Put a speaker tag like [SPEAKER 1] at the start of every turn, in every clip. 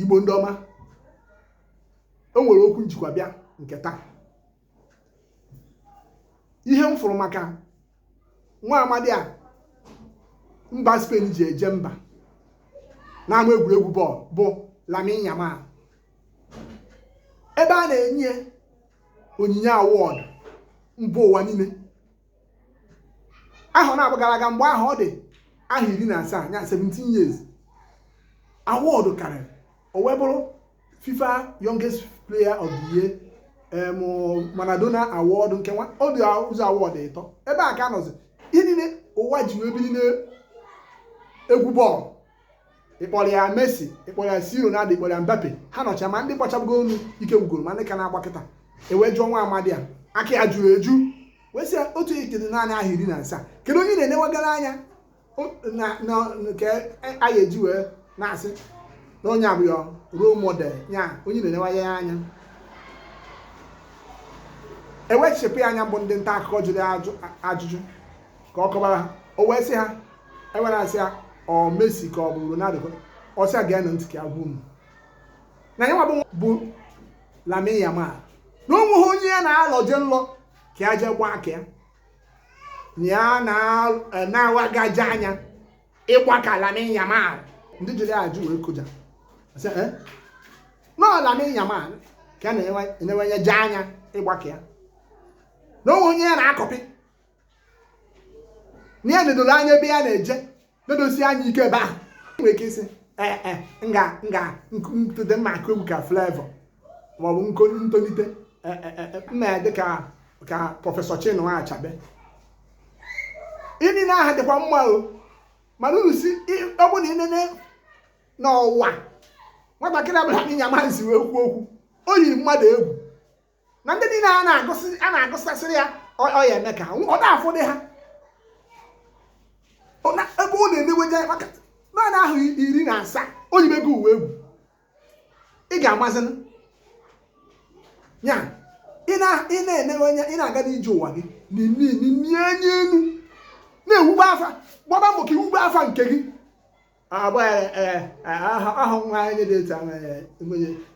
[SPEAKER 1] igbo ndị ọma o nwere okwu m jikwa bịa nke taa ihe m fụrụ maka nwa amadi a mba Spain ji eje mba n'ama egwuregwu bọọlụ bụ Lamine Yamal ebe a na-enye onyinye awọdụ mba ụwa niile ahọ naabọ gara aga mgbe ahụ ọ dị ahọ iri na asaa ya 17 years awọdụ karịrị o wee bụrụ FIFA youngest player of the year em, Maradona award nke nwa ọ bụzi award ịtọ ebe a ka a nọzi ihe niile ụwa ji wee biri n'egwu bọọlụ ị kpọrọ ya Messi ị kpọrọ ya C. Ronaldo ị kpọrọ ya Mbappe ha nọcha ma ndị gbachabugo bọọlụ ike gwụgoro ma ndị ka na-agba kịta e wee jụọ nwa amadi a aka ya juru eju wee sị otu ị ka dị naanị ahọ iri na asaa kedu onye na-enewagara anya nke anyị eji wee na-asị na onye a bụ role model ya onye na-enewanye ya anya e wee chepụ ya anya bụ ndị nta akụkọ jụrụ ajụjụ ka ọ kọbara ha o wee sị ha e wee na-asị ya ọ Messi ka ọ bụ Ronaldo ọ sị ha genụ ntị ka a gwa unu na ya bụ Lamine Yamal na o nweghị onye ya na-alọje nlọ ka ya jee gbaa ka ya na ya e, na-awagaje anya ịgba ka Lamine Yamal ndị jụrụ ajụjụ wee kụja eh? na Lamine Yamal ka ya na-eneweje anya ịgba ka ya na o nweghị onye ya na-akọpị na ya nedoro anya ebe ya na-eje nedosie anya ike ebe ahụ nwere ike ịsị ee eh, eh, nga nga m tolite m ma-akụ egwu ka Flavour maọbụ m tolite eh, m ya-adị ka ka prọfesọ Chinua Achebe ihe niile ahụ dịkwa mma o mana unu si ọ bụ na ị nene n'ụwa nwatakịrị a bụ Lamine Yamal si wee kwuo okwu o yiri mmadụ egwu na ndị niile a na-agụsị a na-agụsasịrị ya ọ ọ ya eme ka ha nwụ- ọ na-afụdị ha Ọ na- ebe ọ na-eneweje ya maka naanị ahọ iri na asaa o yibego ụwa egwu ị ga-amazinụ ya ị na- ị na-enewe anya ị na-aga n'ije ụwa gị na-ene na-ene anya elu na-ewube afa gbaba mbọ ka i wube afa nke gị agba aha nwa onye dị etu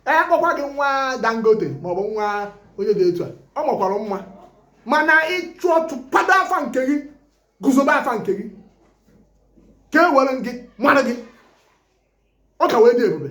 [SPEAKER 1] a kpọkwa gị nwa dangote maọbụ nwa onye dị etu a ọ makwara mma mana ịchụ uchu kwado afa nke gị guzobe afa nke gị ka e were gị mara gị ọ ka wee dị ebube